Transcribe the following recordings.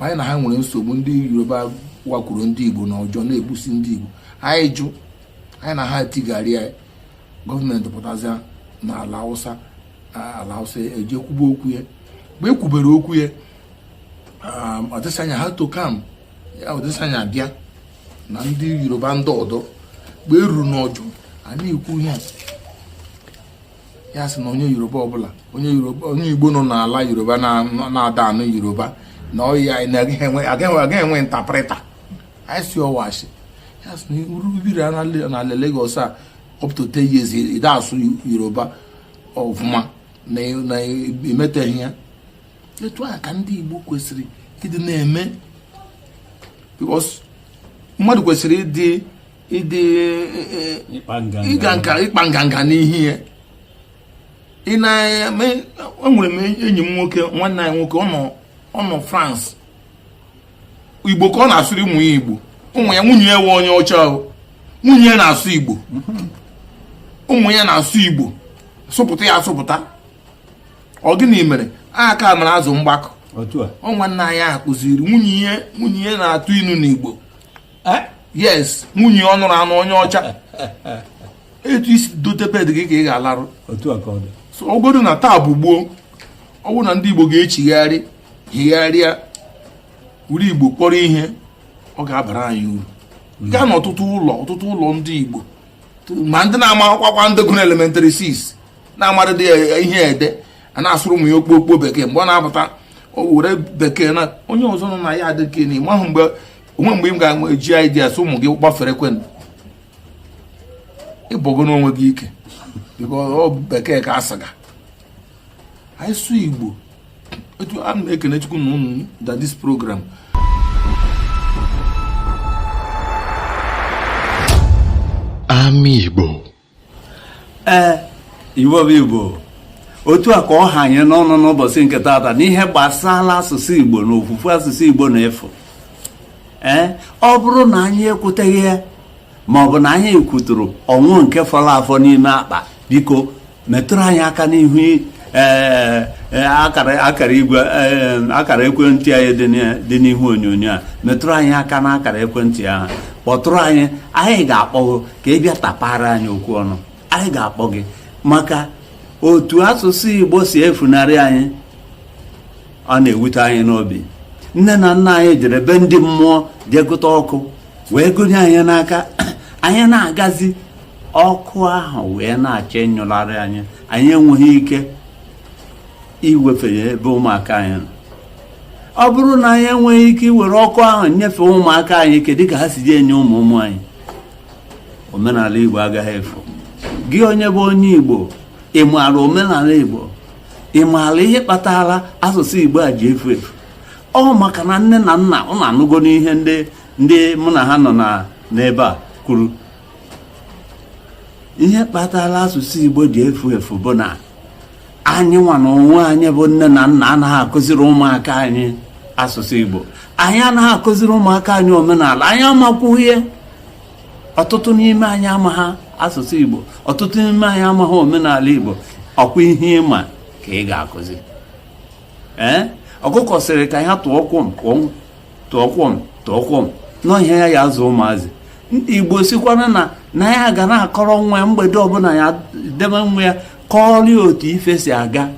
anyị na ha nwere nsogbu ndị yoruba wakwuru ndị igbo na Ojo na-egbusi ndị igbo anyị jụ anyị na ha tigharịa gọọmenti pụtazịa na Alausa Alausa e je kwube okwu ya mgbe e kwubere okwu ya um, ọdịsanya had to come ọdịsanya bịa na ndị yoruba ndị ọdọ mgbe e ruru n'Ojo a na-ekwu ihe a ya sị na onye yoruba ọbụla onye igbo nọ n'ala yoruba na-ada anụ yoruba na ọ ya agaghị enwe interpreter anyị sị ọ why sir ya sị na ọ bụrụ i biri n'ala Lagos a up to 10 years ị da asụ yoruba ọfụma na i meteghị ya etu a ka ndị igbo kwesịrị ịdị na-eme because mmadụ kwesịrị ịdị ịdị ịga nka ịkpa nganga n'ihe ya ị na-eme enwere m enyi m nwoke nwanne anyị nwoke ọ nọ France igbo ka ọ na-asụrụ ụmụ ya igbo ụmụ ya nwunye ya wụ onye ọcha ahụ nwunye ya na-asụ igbo ụmụ ya na-asụ igbo sụpụta ya asụpụta ọ gịnị mere aka mara azụ mgbakọ ọ nwanne anyị ahụ kụziri nwunye ya nwunye ya na-atụ inu n'igbo eh? yes nwunye ọ nụrụ anụ onye ọcha etu i si dote bed gị ka ị ga-alarụ otu a ka ọ dị so ọ godu na taa bụ gboo ọ bụrụ na ndị igbo ga-echigharị chigharịa were igbo kpọrọ ihe ọ ga-abara anyị uru hmm. gaa n'ọtụtụ ụlọ ọtụtụ ụlọ ndị igbo ma ndị na-ama akwụkwọ ndị gụrụ elementary 6 na-amadịghị ihe ede a na-asụrụ ụmụ ya okpokpo bekee mgbe ọ na-apụta o were bekee na onye ọzọ nọ na ya adịghị na ịmahụ mgbe o nwe mgbe m ga-eji ideas ụmụ gị gbafere kwen ịbụgo n'onwe gị ike ọ bekee ka a sị gị anyị sụ igbo etu a na-ekene chukwu na ụnụ da this program Ama Igbo ee igbo bụ igbo otu a ka ọ ha anyị n'ọnụ n'ụbọchị nke taata n'ihe gbasara asụsụ igbo na ofufu asụsụ igbo na-efu ee ọ bụrụ na anyị ekwuteghị ya ma ọ bụ na anyị ekwuturu o nwee nke fọrọ afọ n'ime akpa biko metụrụ anyị aka n'ihu ee akara igwe akara ekwentị anyị dị n'ihu onyonyo a metụrụ anyị aka n'akara ekwentị ahụ kpọtụrụ anyị anyị ga-akpọku ka ị bịa tapara anyị okwu ọnụ anyị ga-akpọ gị maka otu asụsụ igbo si efunarị anyị ọ na-ewute anyị n'obi nne na nna anyị jere be ndị mmụọ jee gụta ọkụ wee gụnye anyị n'aka anyị na-agazi ọkụ ahụ wee na-achọ ịnyụlarị anyị anyị enweghị ike iwefe ya ebe ụmụaka anyị nọ ọ bụrụ na anyị enweghị ike iwere ọkụ ahụ nyefee ụmụaka anyị kedu ka ha si ji enye ụmụ ụmụ anyị omenala igbo agaghị efu gị onye bụ onye igbo ị maara omenala igbo ị maara ihe kpatara asụsụ igbo a ji efu efu ọ maka na nne na nna ụnụ anụgonụ ihe ndị mụ na ha nọ n'ebe a kwuru ihe kpatara asụsụ igbo ji efu efu bụ na anyị nwa na onwe anyị bụ nne na nna anaghị akụziri ụmụaka anyị asụsụ igbo anyị anaghị akụziri ụmụaka anyị omenala anyị amakwughị ihe ọtụtụ n'ime anyị amaghị asụsụ igbo ọtụtụ n'ime anyị amaghị omenala igbo ọkwa ihe ị ma ka ị ga-akụzi ee ọkụkọ sịrị ka ya tụọ kwom kwom tụọ kwom tụọ kwom na ọ ihe ya ji azụ ụmụazị igbo sịkwara na na ya ga na-akọrọ nwa ya mgbede ọbụla ya debe nwa ya kọọrọ otu ife si aga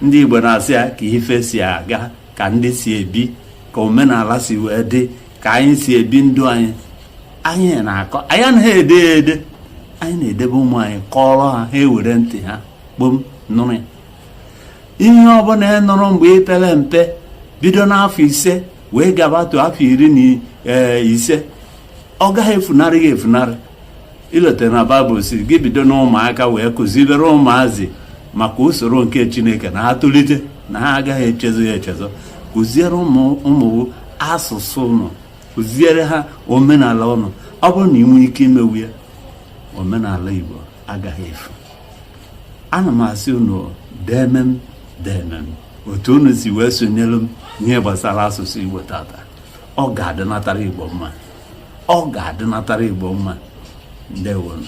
ndị Igbo na-asị ya ka ife si aga ka ndị si ebi ka omenala si wee dị ka anyị si ebi ndụ anyị anyị na-akọ anyị anaghị ede ya ede anyị na-edebe ụmụ anyị kọọrọ ha ha ewere ntị ha kpom nụrụ ya ihe ọbụla ị nụrụ mgbe ị pere mpe bido n'afọ ise wee gabatu afọ iri na ise ọ gaghị efunarị gị efunarị i lote na baịbụl sị gị bido n'ụmụaka wee kụzibere ụmụazị maka usoro nke chineke na ha tolite na ha agaghị echezọ ya echezọ kụziere ụmụ ụnụ asụsụ ụnụ kụziere ha omenala ụnụ ọ bụrụ na i nwee ike imewu ya omenala igbo agaghị efu ana m asị unu deme m deme m otu unu si wee sonyere m ihe gbasara asụsụ igbo tata ọ ga-adịnatara igbo mma ọ ga-adịnatara Igbo mma ndewonụ